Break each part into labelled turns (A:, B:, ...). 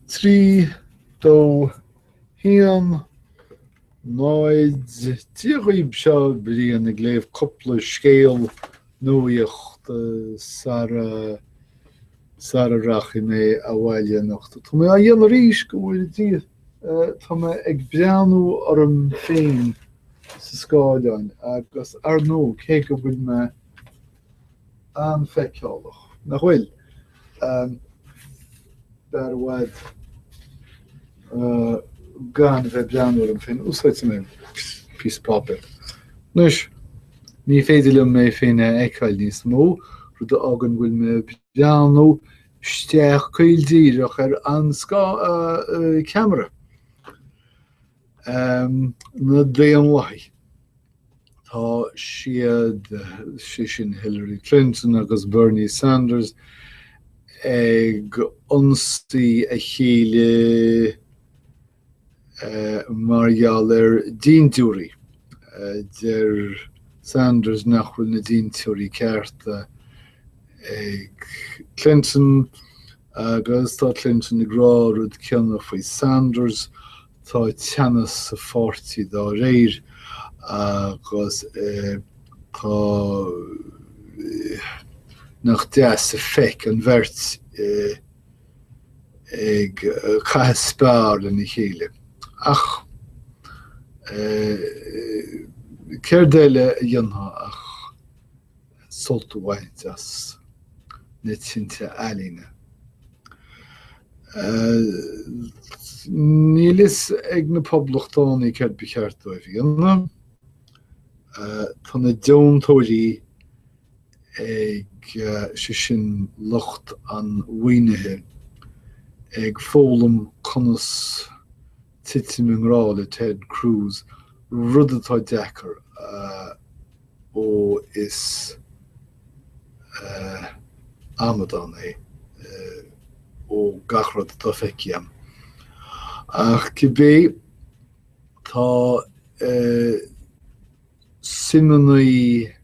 A: 3, 2, 1, 0, Dia dhaoib seo Brian ag léamh cúpla scéal nuaíocht sara sara rachaidh mé abhaile anocht. Tá mé á dhéanamh arís, go bhfóire Dia. Tá mé ag breathnú orm féin sa scáileán agus, ar ndóigh, cé go bhfuil mé an-fheiceálach, nach bhfuil? B'fhearr i bhfad gan a bheith ag breathnú orm féin. Úsáidfidh mé píosa páipéir. Anois, ní féidir liom mé féin a fheiceáil níos mó, rud a fhágann go bhfuil mé ag breathnú isteach caol díreach ar an ceamara. um, na Daonlathaí. Tá siad, sé sin Hillary Clinton agus Bernie Sanders, ag ionsaí a chéile uh, mar gheall ar dintiúirí. Uh, deir Sanders nach bhfuil na dintiúirí cearta ag Clinton Agus tá Clinton ag rá rud céanna faoi Sanders, tá teannas sa pháirtí dá réir agus tá nach deas an feic an bheirt ag caitheamh spear lena chéile. Ach céard eile a dhéanfá ach. sult a bhaint as na tinte ealaíne. Níl fhios ag na poblachtánaigh céard ba cheart dóibh a dhéanamh. Tá na deontóirí ag, sé sin, lucht an mhaoinithe ag foghlaim conas titim i ngrá le Ted Cruz, rud atá deacair a Ó is amadán é ó gach rud atá feicthe agam. Ach cibé tá suimeannaí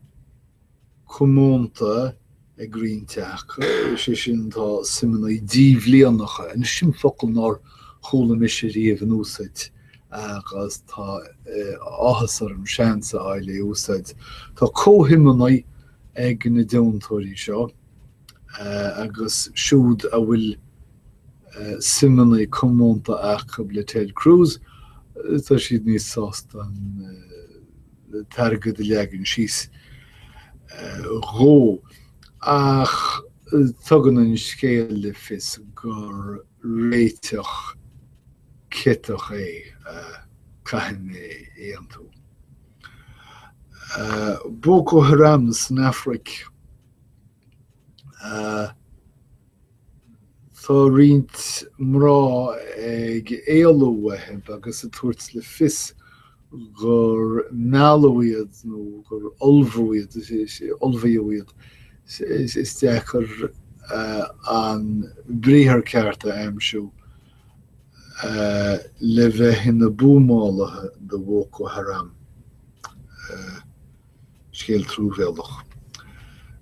A: comónta ag roinnt acu, sé sin, tá suimeannaí díbhlíonacha, anois sin focal nár chuala mise riamh in úsaid agus tá áthas orm seans a fháil é a úsáid, tá comhshuimeannaí ag na deontóirí seo agus siúd a bhfuil suimeannaí comónta acu le Ted Cruz, tá siad níos sásta an. an t-airgead a leagan síos dhó, ach tugann an scéal le fios gur réiteach ciotach é, caithfidh mé aontú. Boko Haram san Afraic Tá roinnt mná ag éalú uathu agus ag tabhairt le fios gur mealladh iad nó gur ullmh, ullmhaíodh iad, is deacair an briathar ceart a aimsiú, le bheith ina buamálaithe do Bhoko Haram. Scéal truamhéalach.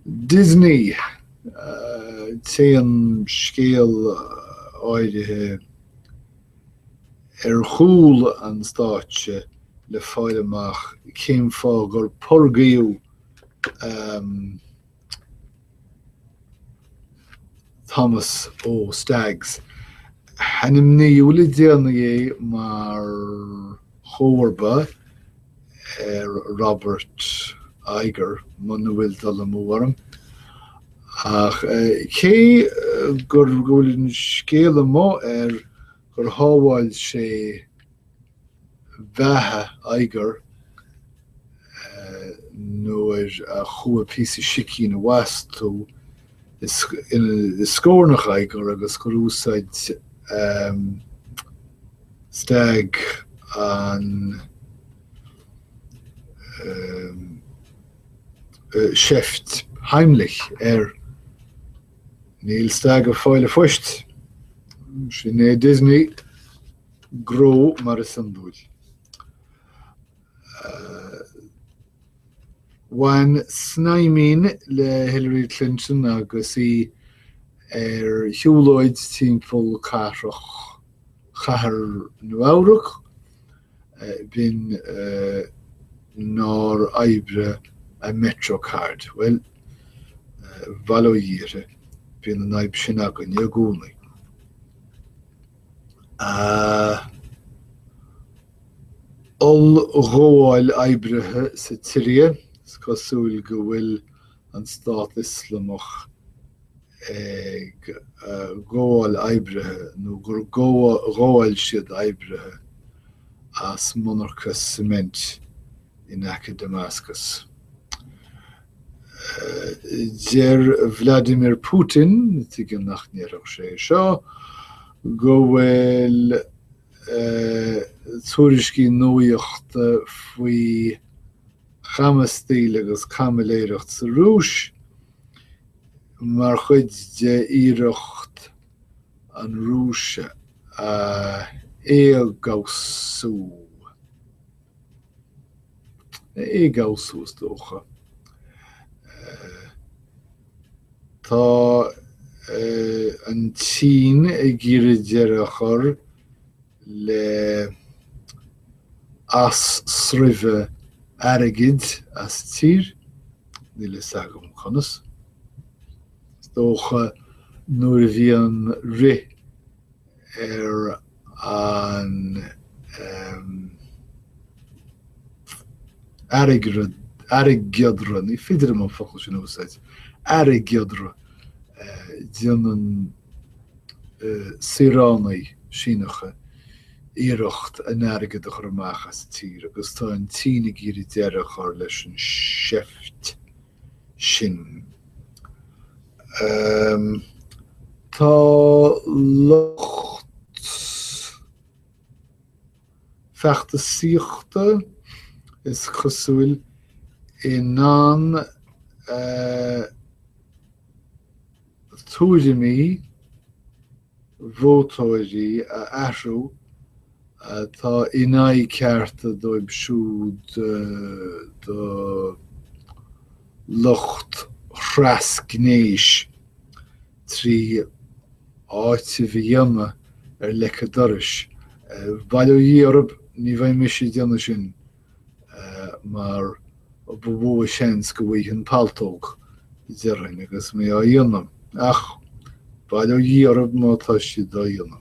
A: Disney! Téann an scéal áirithe ar chúl an stáitse le fáil amach cén fáth gur purgáladh Thomas O Staggs. Ainmníodh le déanaí é mar chomharba ar Robert Iger, muna bhfuil dul amú orm. Ach cé gur go bhfuil an scéal amuigh air gur shábháil sé beatha Iger nuair a chuaigh píosa sicín i bhfastú i scornach Iger agus gur úsáid Stagg an seift Heimlich air. Níl Stagg ag fáil an phoist. Sin é Disney. gnó mar is iondúil. Bhain snaidhm amháin le Hillary Clinton agus í ar shiúlóid timpeall cathrach Chathair Nua-Eabhrac, b'in nár oibrigh a MetroCard. Bhuel, bail ó Dhia uirthi, bíonn an fhadhb sin againne i gcónaí. Ollghabháil oibrithe sa tSiria, is cosúil go bhfuil an Stát Ioslamach ag gabháil oibrithe nó gur ghabháil siad oibrithe as monarcha suimint in aice Damascus. Deir Vladimir Putin, tuigim nach ndéarfadh sé seo, go bhfuil tuairiscí nuaíochta faoi chamastaíl agus camiléireacht sa Rúis mar chuid de iarracht an Rúis a éagobhsú. éagobhsú is dócha. Tá an tSín ag iarraidh deireadh a chur le as-sreabhadh airgid as tír, níl fhios agam conas. Is dócha nuair a bhí an rith ar an airgeadra, ní féidir liom an focal sin a úsáid, airgeadra déanann saoránaigh Shíneacha iarracht an t-airgead a chur amach as an tír agus tá an tSín ag iarraidh deireadh a chur leis an seift. sin. Tá lucht feachtasaíochta, is cosúil, in ann tuairimí vótóirí a athrú atá in aghaidh cearta dóibh siúd de lucht thrasgnéis trí áiteamh a dhéanamh ar leic an dorais. Bail ó Dhia oraibh, ní bheidh mise ag déanamh sin. mar ba mhó a seans go bhfaighinn paltóg, déarfainn, agus mé á dhéanamh, ach bail ó Dhia orthu má tá siad á dhéanamh.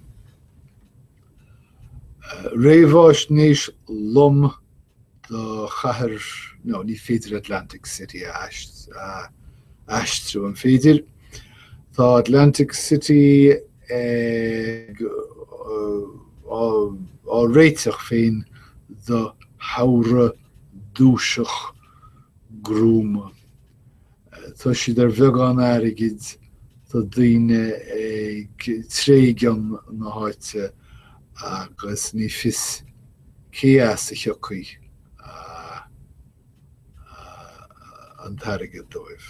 A: Réamháisnéis lom do chathair, no, ní féidir Atlantic City a aistriú, an féidir? Tá Atlantic City. á réiteach féin do shamhradh duairc gruama. Tá siad ar bheagán airgid tá daoine ag tréigean na háite agus ní fios cé as a thiocfaidh an t-airgead dóibh.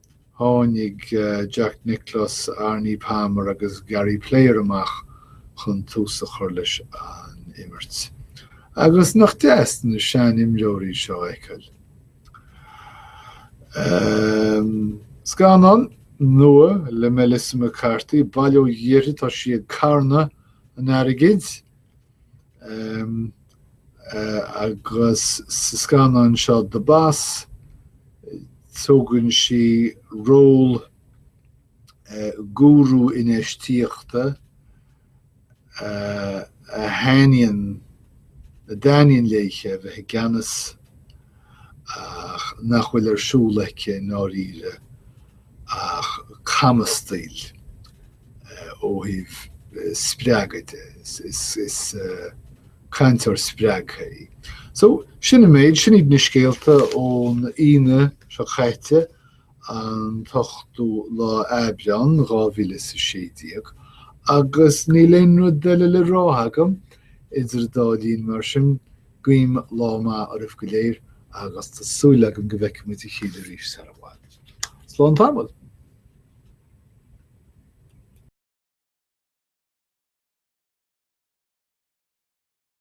A: Tháinig Jack Nicklaus, Arnie Palmer agus Gary Player amach chun tús a chur leis an imirt. Agus nach deas na sean-imreoirí seo a fheiceáil. Scannán nua le Melissa McCarthy, Bail ó Dhia uirthi, tá sí ag carnadh an airgid! agus sa scannán seo The Boss tógann sí ról gúrú infheistíochta a thaitníonn a dtaitníonn léithe bheith i gceannas ach nach bhfuil ar siúl aici i ndáiríre. ach camastaíl ó thaobh spreagadh de. Is cainteoir spreagtha í. So, sin an méid, sin iad na scéalta ón Aoine seo caite, an t-ochtú lá Aibreán 2016, agus níl aon rud eile le rá agam idir an dá linn mar sin, guím lá maith oraibh go léir agus tá súil agam go bhfeicfimid a chéile arís sara bhfad. Slán tamall.